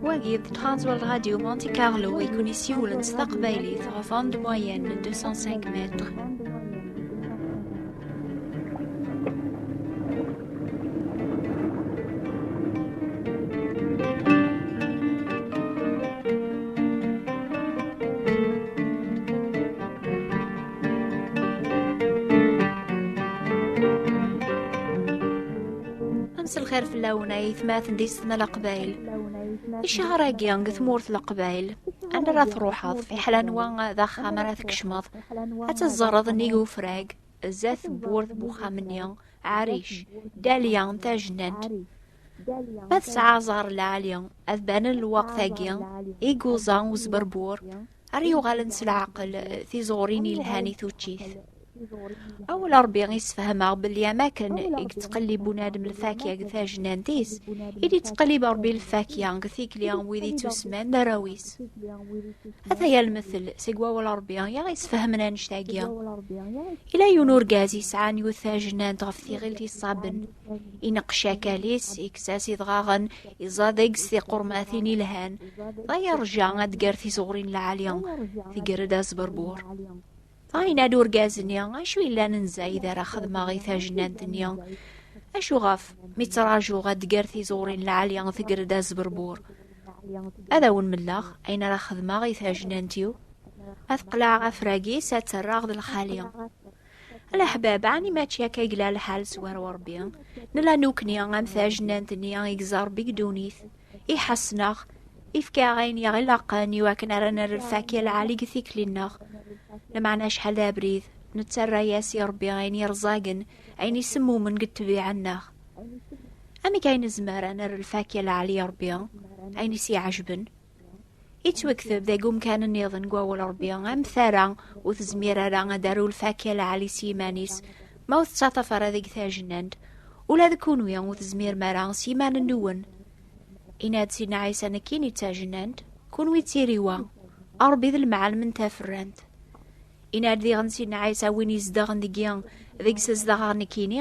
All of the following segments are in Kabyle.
Wagi d Transwal Radio Monte Carlo i kun isiwlen s taqbaylit ɣef onde moyenne 205 mètres. lxir fell-awen ay tmaten di setna leqbayl icahr-agi deg tmurt leqbayl anda ara truḥeḍ fiḥel anwa d axxam ara tkecmeḍ ad teẓẓreḍ nnig ufrag zdat tewwurt n uxxam-nni Ɛaric, Daliya tajnant. Ma tesɛa aẓar lɛali, ad banen lweqt-agi i yuẓa uzberbur, ara yuɣalen s leɛqel tiẓurin yelhan i tuččit. Awel Ṛebbi i sefhameɣ belli am akken i yettqellib unadem lfakya deg tajnant-is, i d-yettqellib Ṛebbi lfakya deg tikli n wid yettusman d arraw-is. Ata yal lmettel seg wawal Rebbi i aɣ-yesfehmen annect-agi. Ila yiwen urgaz yesɛan yiwet tajnant ɣef tiɣilt iṣaben. Ineqqec akal-is, yekkes-as idɣaɣen, iẓa deg-s tiqurmatin ilhan. Dɣa yerja ad d-ger tizeɣrin lɛali. Tger-d asberbur. Yenna-d urgaz-nni, acu yellan n Zayd ara xedmeɣ i tajnant-nni? Acu ɣef mi ttrajuɣ ad d-ger tiẓuri n lɛali tegger-d azberbur? Ad awen-melleɣ ayen ara xedmeɣ i tajnant-iw, ad qleɛeɣ afrag-is ad terraɣ d lxali. Leḥbab, ɛni mačči akka i yella lḥal s war Ṛebbi? Nella nukni am tajnant-nni i yeẓẓa Ṛebbi deg ddunit. iḥassen-aɣ, ifka-aɣ ayen i aɣ-ilaqen i wakken ara nerr lfak i lɛali deg tikli-nneɣ. Lameɛna acḥal d abrid, nettarra-yas i Rebbi ayen yerẓagen, ayen isemmumen deg ṭṭbiɛa-nneɣ. Amek ay nezmer ad nerr lfak i lɛali i Rebbi, ayen i s-iɛejben? Ittwekteb deg umkan nniḍen n wawal Rebbi am tara ur tezmir ara ad aru lfakya lɛali s yiman-is ma ur tettaṭaf ara deg tajnant ula d kunwi ur tezmirem ara s yiman-nwen inna-d Sidna Ɛisa nekkin i d tajnant kunwi d tiriwa Rebbi d lemɛalem n taferrant inna-d diɣen Sidna Ɛisa win izedɣen deg-i deg-s zedɣeɣ nekkini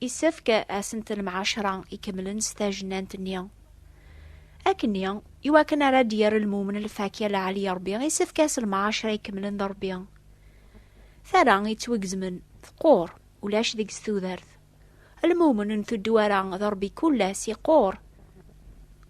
Isefk asentel mɛacra ikemlen s tajnant-nni. Akkenni, i wakken ara d-yerr lmumen lfakya lɛali i Rebbi, isefk as lmɛacra ikemlen d Rebbi. Tara yettwagezmen, teqqur, ulac deg-s tudert. Lmumen n tuddwara d Rebbi kullas iqqur,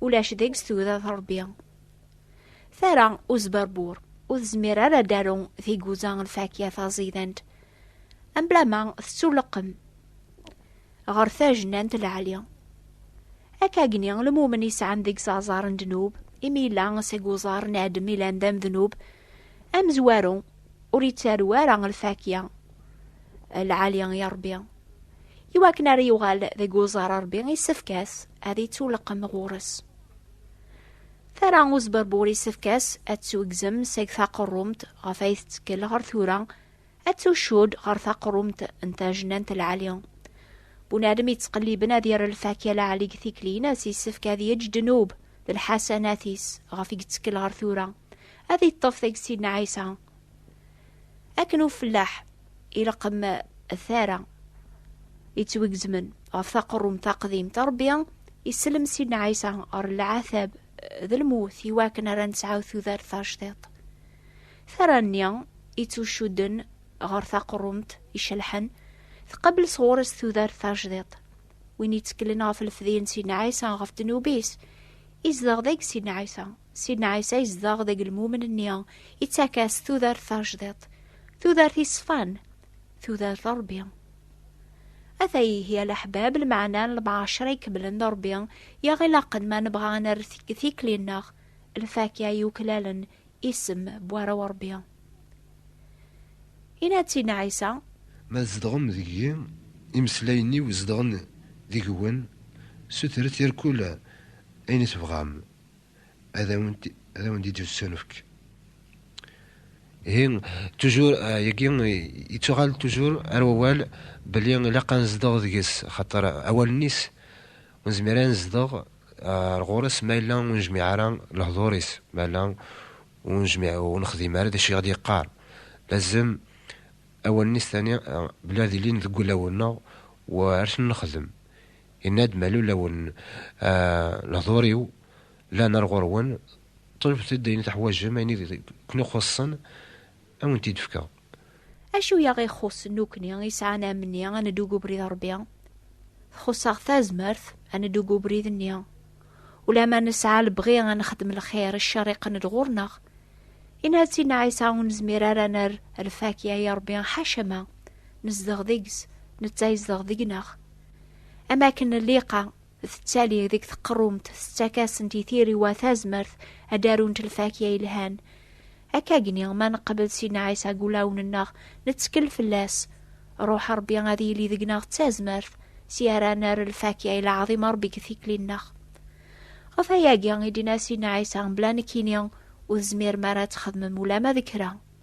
ulac deg-s tudert Rebbi. Tara uzberbur, ur tezmir ara ad d-aru tiguza lfakya taẓidant, Amblama tettuleqqem ɣer tajnant lɛali. Akagni lmumen yesɛan deg-s aẓar n ddnub, imi yella seg uẓar n Adem ilan d amednub, amezwaru ur yettaru ara lfakya lɛali i Rebbi. I wakken ara yuɣal deg uẓar Rebbi, yessefk-as ad yettuleqqem ɣur-s. Tara uzberbur isefk-as ad tuggzem seg taqerrumt ɣef ay tettekkel ɣer tura, ad tucud ɣer taqerrumt n tajnant lɛali. Bunadem yettqelliben ad yerr lfakya lɛali deg tikli-nnes yessefk ad yeǧǧ ddnub d lḥasanat-is ɣef i yettekkel ɣer tura, ad yeṭṭef tagsi n Ɛisa. Akken ufellaḥ ileqqem tara yettwigezmen ɣef taqerrumt taqdimt rebbi isellem sidna ɛisa ɣer lɛatab d lmut iwakken ara nesɛu tudert tajdiṭ tara-nni ittucudden ɣer taqerrumt icelḥen tqabel sɣur-s tudert tajdiṭ win yetteklen ɣef lefdi n sidna ɛisa ɣef ddnub-is izdeɣ deg sidna ɛisa Sidna Ɛisa yezdeɣ deg lmumen-nni, ittak-as tudert tajdiṭ, tudert iṣfan, tudert Ṛebbi. Ata ihi a leḥbab lmeɛna n lemɛacer ay kemmlen d Ṛebbi i aɣ-ilaqen ma nebɣa ad nerr tikli-nneɣ lfakya yuklalen isem n warraw n Ṛebbi. Yenna-d Sidna Ɛisa. Ma tzedɣem deg-i, imeslayen-iw zedɣen deg-wen, sutret irkul ayen i tebɣam, ad awen-d-yettunefk. Ihi, tujur, euh, yagi yettuɣal tujur ar wawal belli ilaq ad nezdeɣ deg-s, xaṭer awalen-is ur nezmir ad nezdeɣ ar ɣur-s ma yella ur nejmiɛ ara lehdur-is, ma yella ur nejmiɛ ur nexdim ara d acu i ɣ-d-yeqqar. Lazem awalen-is tani belli ad ilin deg wulawen-nneɣ u ar ten-nexdem. Yenna-d Malul awen lehdur-iw llan ar ɣur-wen, ṭlebet-d ayen i teḥwaǧem, ayen i ken-ixuṣṣen ad wen-t-id-fkeɣ. Acu i aɣ-ixuṣṣen nekkni isɛan amni ad neddu deg ubrid n Ṛebbi? Txuṣṣ-aɣ tazmert ad neddu deg ubrid-nni. Ulamma nesɛa lebɣi ad nexdem lxir, cceṛ iqqen-d ɣur-neɣ. Yenna-d Sidna Ɛisa, Ur nezmir ara ad nerr lfakya i Ṛebbi, ḥacama! Nezdeɣ deg-s, netta yezdeɣ deg-neɣ. Am akken lliqa tettali deg teqrumt tettak-asent i tiriwa tazmert ad arunt lfakya yelhan. Akkagni ma neqbel Sidna Ɛisa deg ulawen-nneɣ, nettkel fell-as. Ruḥ Ṛebbi ad yili deg-neɣ d tazmert, si ara nerr lfakya i leɛḍim Ṛebbi deg tikli-nneɣ. Ɣef ayagi i d-yenna Sidna Ɛisa, Mebla nekkini, ur tezmirem ara ad txedmem ulama d kra.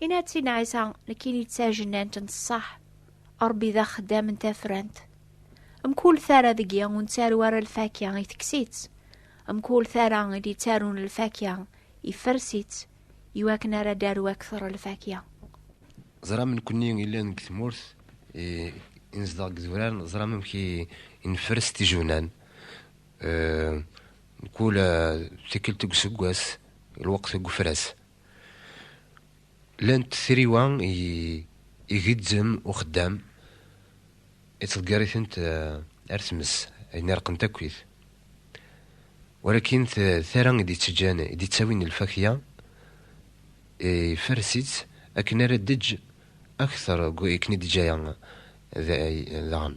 Inatin Ɛisa nekkini d tajennant n ṣṣeḥ, Ṛebbi d axeddam n tafrant. Mkul tara deg-i ur nettaru ara lfakya i teksit, mkul tara i d-ittarun lfakya ifers-itt, iwakken ara d-aru akteṛ lfakya. Ẓram nekkni illan deg tmurt i nezdeɣ deg idurar, ẓram amek i nfers tijewnan. Mkul tikkelt deg useggas, lweqt deg ufras. Llant triwa i igezzem uxeddam, ittḍeggar-itent eh, ar tmes, ayen irqen takkit. Walakin tara i d-ittejjan, i d-ittawin lfakya, ifers-itt akken ara d-eǧǧ akter akken i d-eǧǧaya daɣen.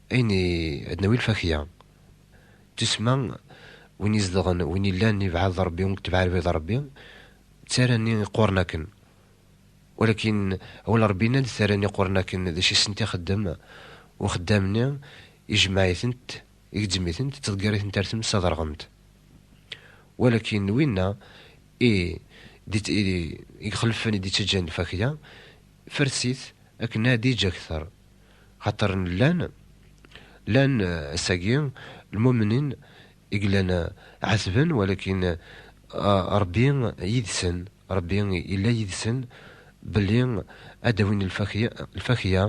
Ayen i d-nawi lfakya, tussma, win izedɣen, win illan ibɛed d Ṛebbi, win itbeɛ lbid n Ṛebbi, d tara-nni iqquren akken. Walakin, awal n Ṛebbi yenna-d, tara-nni iqquren akken d acu i sent ixeddem uxeddam-nni, ijemmeɛ-itent, igezzem-itent, ittḍeggir-itent ar tmes ad ṛɣent. Walakin, winna i ixelfen, i d-ittaǧǧan lfakya, fers-it akken ad yeǧǧ akter. Xaṭer llan, llan ass-agi lmumnin i yellan ɛetben, walakin Ṛebbi yid-sen, Ṛebbi yella yid-sen belli ad d-awin lfakya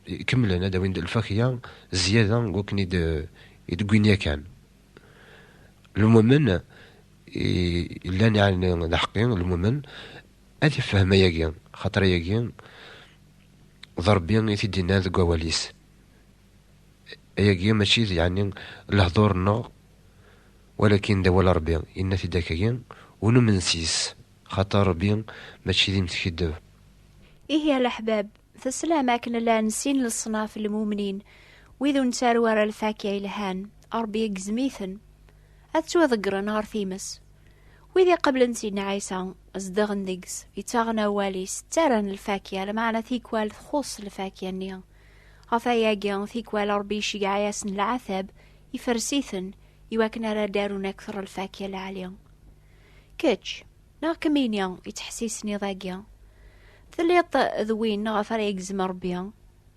ikemlen, ad d-awin lfakya zyada n wakken i d-wwin yakan. Lmumen i yellan yeɛni d aḥeqqi, lmumen. Ad ifhem ayagi, xaṭer ayagi d Ṛebbi i t-id-innan deg wawal-is. Ayagi mačči d yeɛni lehdur-nneɣ, walakin d awal Ṛebbi. Yenna-t-id akkagi, Ur numen sys, xaṭer Ṛebbi mačči d imtkeddeb. Ihi a leḥbab, teslam akken llan sin leṣnaf n lmumnin, wid ur nettaru ara lfakya yelhan, Ṛebbi igezzem-iten, ad ttwaḍeggren ɣer times, Wid iqablen Sidna Ɛisa, zedɣen deg-s, yettaɣen awal-is, ttarran lfakya, lmeɛna tikwal txuṣṣ lfakya-nni. Ɣef ayagi, tikwal Ṛebbi iceggeɛ-asen leɛtab, ifres-iten, iwakken ara d-arun akteṛ lfakya lɛali. Kečč, neɣ kemmini, yettḥessisen iḍ-agi, telliḍ d win ɣef ara yegzem Ṛebbi?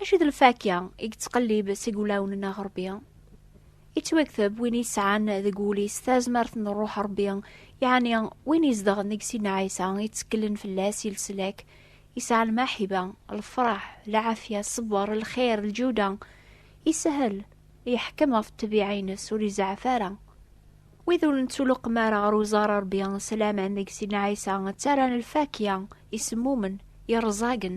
Acu d lfakya i yettqellib seg wulawen n Rebbi? Ittwakteb win yesɛan deg wul-is tazmert n Ṛṛuḥ Ṛebbi, yeɛni win izedɣen deg Sidna Ɛisa, ittekklen fell-as i leslak, yesɛa lmaḥiba, lefṛaḥ, lɛafya, ṣṣber, lxir, lǧuda, isahel, yeḥkem ɣef ṭṭbiɛa-ines, ur izeɛɛef ara. Wid ur nettuluqem ara ɣer uẓar n Ṛebbi s laman deg Sidna Ɛisa, ttarran lfakya isemmumen, yerẓagen.